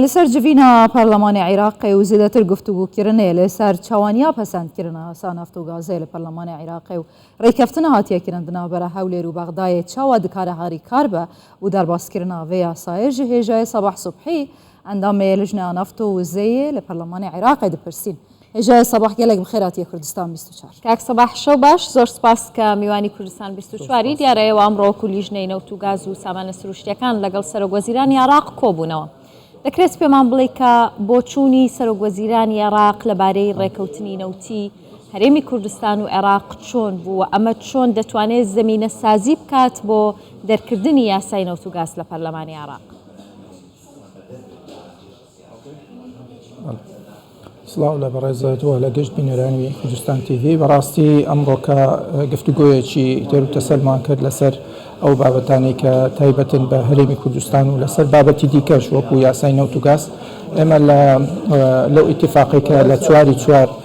لەسەر جڤینە پەرلەمانێ عیراق و زێدەتر گفتوگو کردنێ لەسەر چاوانیا پەسەند کردنە ئاسا نەفت و گازێ لە پەرلەمانێ عیراق و ڕێککەفتنە هاتیە کرن دناوبەرە هەولێر و بەغدایێ چاوا دکارە هاریکار بە و دەرباز کردنە ڤێ یاسایێ ژە هێژایێ سەباح سوبحی ئەندامێ لژنە نەفت و وزەیێ لە پەرلەمانێ عیراق دپرسین. هێژایە سەباح گەلەک بخێر هاتیە کوردستان بیست و چوار. کاک سەباح شەو باش زۆر سپاس کە میوانی کوردستان بیست و چوار ی دیارە ئێوە ئەمڕۆ وەکو لیژنەی نەوت و گاز و سامانە سروشتیەکان لەگەڵ سەرۆک وەزیرانی عێڕاق کۆبوونەوە دەکرێت پێمان بڵێی کە بۆچوونی سەرۆک وەزیرانی عێڕاق لەبارەی ڕێکەوتنی نەوتی هەرێمی کوردستان و عێڕاق چۆن بوو و ئەمە چۆن دەتوانێت زەمینە سازی بکات بۆ دەرکردنی یاسای نەوت و گاز لە پەرلەمانی عێڕاق. سڵاو لە بەڕێزت و لە گشت بینەرانی کوردستان تیڤ بەڕاستی ئەمڕۆکە گفتوگۆیەکی تێر و تەسەلمان کرد لەسەر ئەو بابەتانی کە تایبەتن بە هەرێمی کوردستان و لەسەر بابەتی دیکەش وەکو یاسای نەوت و گاز ئێمە لە لەو ئیتفاقێکە لە چواری چوار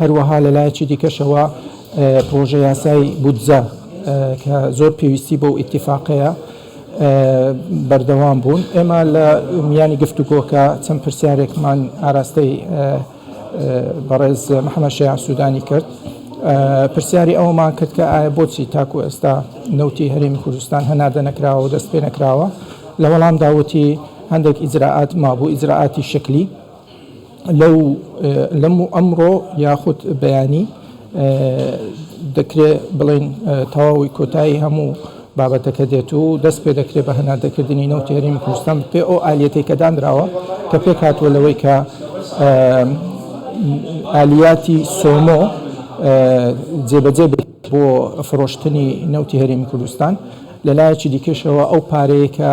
هەروەها لە لایەکی دیکەشەوە پڕۆژە یاسای بودجە کە زۆر پێویستی بەو ئیتیفاقەیە بەردەوام بوون ئێمە لە میانی گفتوگۆکە چەند پرسیارێکمان ئاراستەی بەڕێز محەممەد شەیع سوودانی کرد پرسیاری ئەومان کرد کە ئایا بۆچی تاکو ئێستا نەوتی هەرێمی کوردستان هەناردە نەکراوە و دەست پێ نەکراوە لە وەڵامدا وتی هەندێک ئیجرائات مابوو ئیجرائاتی شکلی لەو، ئەمڕۆ یاخود بەیانی، دەکرێت بڵێین تەواوی کۆتایی هەموو بابەتەکە دێت و دەست پێ دەکرێت بە هەناردەکردنی نەوتی هەرێمی کوردستان بەپێی ئەو ئالیەتەی کە دانراوە کە پێک هاتووە لەوەی کە ئالیاتی سۆمۆ جێبەجێ بکرێت بۆ فرۆشتنی نەوتی هەرێمی کوردستان لە لایەکی دیکەشەوە ئەو پارەیە کە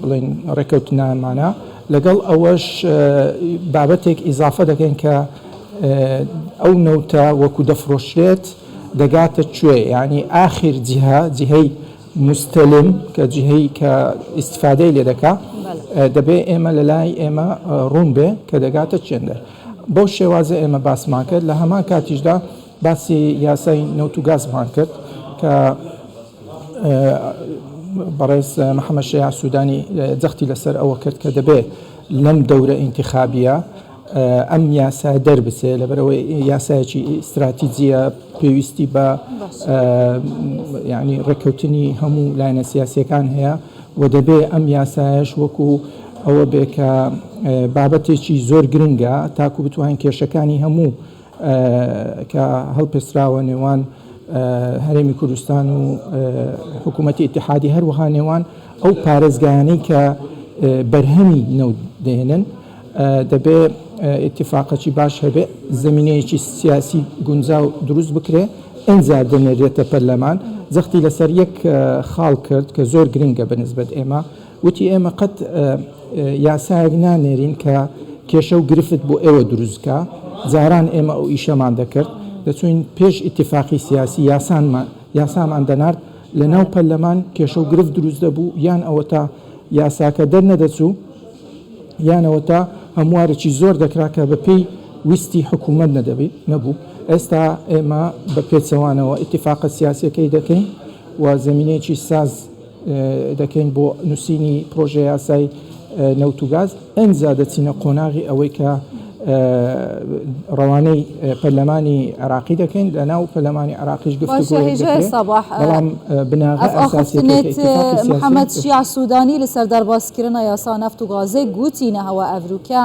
بڵێین ڕێکەوتنامانە، لەگەڵ ئەوەش بابەتێک ئیزافە دەکەین کە ئەو نەوتە وەکو دەفرۆشرێت دەگاتە کوێ یانی ئاخیر جیهە جیهەی موستەلم کە جیهەی کە ئیستفادەی لێ دەکا دەبێ ئێمە لە لای ئێمە ڕوون بێ کە دەگاتە چێندەر بەو شێوازە ئێمە باسمان کرد لە هەمان کاتیشدا باسی یاسای نەوت و گازمان کرد کە بەڕێز محەممەد شەیع سوودانی جەختی لەسەر ئەوە کرد کە دەبێت لەم دەورە ئینتیخابیە ئەم یاسا دەربچێ لەبەرەوەی یاسایەکی ئیستراتیجیە پێویستی بە ینی ڕێککەوتنی هەموو لایەنە سیاسەکان هەیە و دەبێ ئەم یاسایش وەکو ئەوە بێ کە بابەتێکی زۆر گرنگە تاکو بتوانین کێشەکانی هەموو کە هەڵپێستراوە نێوان هەرێمی کوردستان و حکوومەتی ئتیحادی هەروەها نێوان ئەو پارێزگایانەی کە بەرهەمی نەوت دێنن دەبێ اتفاقەکی باش هەبێ زمینەیەکی سیاسی گونجاو دروست بکرێ ئەجا دەنێرێتە پەرلەمان زەختی لەسەر یەک خاڵ کرد کە زۆر گرنگە بە نسبەت ئێمە وتی، ئێمە قەت یاسایەک نانێرین کە کێشە و گرفت بۆ ئێوە دروست بکا، جاران ئێمە ئەو ئیشەمان دەکرد، دەچووین پێش ئیتیفاقی سیاسی یاسامان دەنارد، لەناو پەرلەمان کێشە و گرفت دروست دەبوو، یان ئەوەتا یاساکە دەرنەدەچوو، یان ئەوەتا هەموارێکی زۆر دەکرا کە بەپێی ویستی حکوومەت نەبوو، ئێستا ئێمە بە پێچەوانەوە ئیتیفاقە سیاسییەکەی دەکەین و زەمینەیەکی ساز دەکەین بۆ نووسینی پڕۆژە یاسای نەوت و گاز، ئەنجا دەچینە قۆناغی ئەوەی کە ڕەوانەی پەرلەمانی عێراقی دەکەین، لە ناو پەرلەمانی عێراقیش گفتوگۆیەک دەکرێت، بەڵام بناغە ئەساسیەکەی کە ئیتیفاقی سیاسی. محەمەد شیاع سوودانی لە سەر دەربازکردنە یاسا نەفت و گازێ گوتی، نەهەوە ئەڤروکیا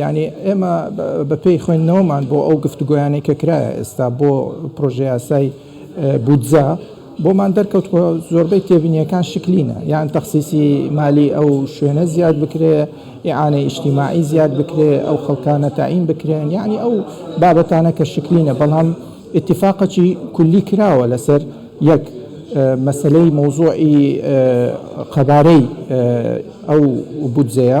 یانی ئێمە بە پێی خوێندنەوەمان بۆ ئەو گفتوگۆیانەی کە کرایە ئێستا بۆ پرۆژەیاسای بودجە بۆمان دەرکەوتووە زۆربەی تێبینیەکان شکلینە یان تەخسیسی مالی ئەو شوێنە زیاد بکرێ ئیعانەی ئیشتیماعی زیاد بکرێ ئەو خەڵکانە تاین بکرێن یعنی ئەو بابەتانە کە شکلینە بەڵام اتفاقەکی کولی کراوە لەسەر یەک مەسەلەی مەوزوعی قەبارەی ئەو بودجەیە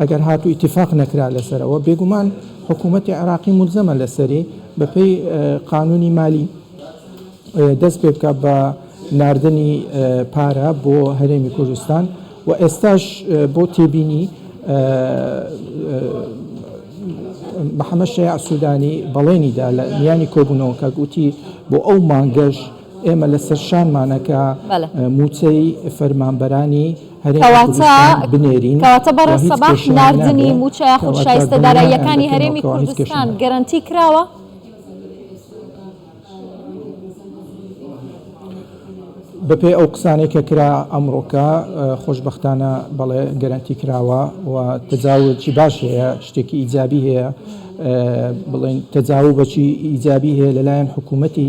ئەگەر هات و ئیتیفاق نەکرا لەسەر ئەوە، بێگومان حکوومەتی عێراقی مولزەمە لەسەری بە پێی قانوونی مالی دەست پێ بکات بە ناردنی پارە بۆ هەرێمی کوردستان و ئێستاش بۆ تێبینی محەمەد شەیاع سوودانی بەڵێنی دا لە میانی کۆبوونەوەکە گوتی بۆ ئەو مانگەش ئێمە لەسەر شانمانە کە مووچەی فەرمانبەرانی هەرێمی کوردستان بنێرین. کەواتە بەڕێز سەباح ناردنی مووچە یاخود شایستە داراییەکانی هەرێمی کوردستان گەرەنتی کراوە؟ بەپێی ئەو قسانەی کە کرا ئەمڕۆکە خۆشبەختانە بەڵێ گەرەنتی کراوە و تەجاوزی باش هەیە، شتێکی ئیجابی هەیە، بڵێن تەجاوز بەچی ئیجابی هەیە لەلایەن حکوومەتی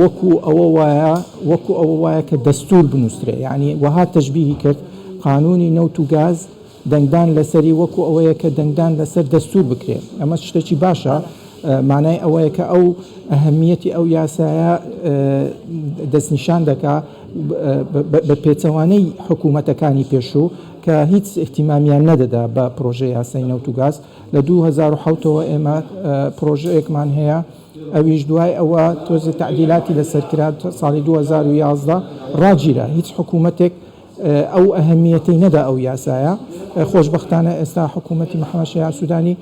وەکو ئەوە وایە وەکو ئەوە وایە کە دەستور بنوسرێ یانی وەها تەشبیهی کرد قانونی نەوت و گاز دەنگدان لەسەری وەکو ئەوەیە کە دەنگدان لەسەر دەستور بکرێ ئەمەش شتێکی باشە مانای ئەوەیە کە ئەو ئەهمیەتی ئەو یاسایە دەستنیشان دەکا بە پێچەوانەی حکوومەتەکانی پێشوو کە هیچ احتیمامیان نەدەدا بە پرۆژە یاسای نەوت و گاز لە 2007ەوە ئێمە پرۆژەیەکمان هەیە ئەویش دوای ئەوە تۆزێ تەعدیلاتی لەسەر کرا ساڵی دوو هەزار و یازدە ڕاگیرا هیچ حکوومەتێک ئەو ئەهمییەتەی نەدا ئەو یاسایە خۆشبەختانە ئێستا حکوومەتی محەمەد شەیاع سوودانی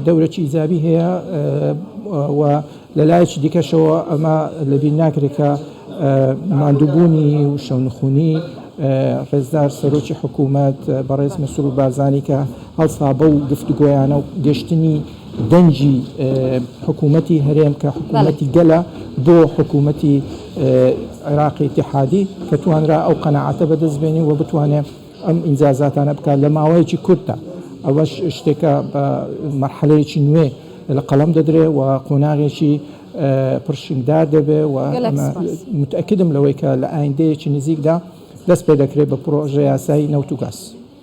دەورەکی ئیجابی هەیە و لە لایەکی دیکەشەوە ئەمە لەبیر ناکرێت کە ماندووبوونی و شەونخوونی ڕێزدار سەرۆکی حکوومەت بەڕێز مەسرور بارزانی کە هەڵسا بەو گفتوگۆیانە و گەشتنی دەنگی حکومەتی هەرێم کە حکومەتی گەلە بۆ حکومەتی عێراقی ئیتیحادی کە توانرا ئەو قەناعەتە بەدەست بێنی و بتوانێ ئەم ئینجازاتانە بکات لە ماوەیەکی کورتدا ئەوەش شتێکە بە مەرحەلەیەکی نوێ لە قەڵەم دەدرێ و قۆناغێکی پڕشنگدار دەبێ و متئەکیدم لەوەی کە لە ئایندەیەکی نزیکدا دەست پێ دەکرێ بە پڕۆژە یاسای نەوت و گاز.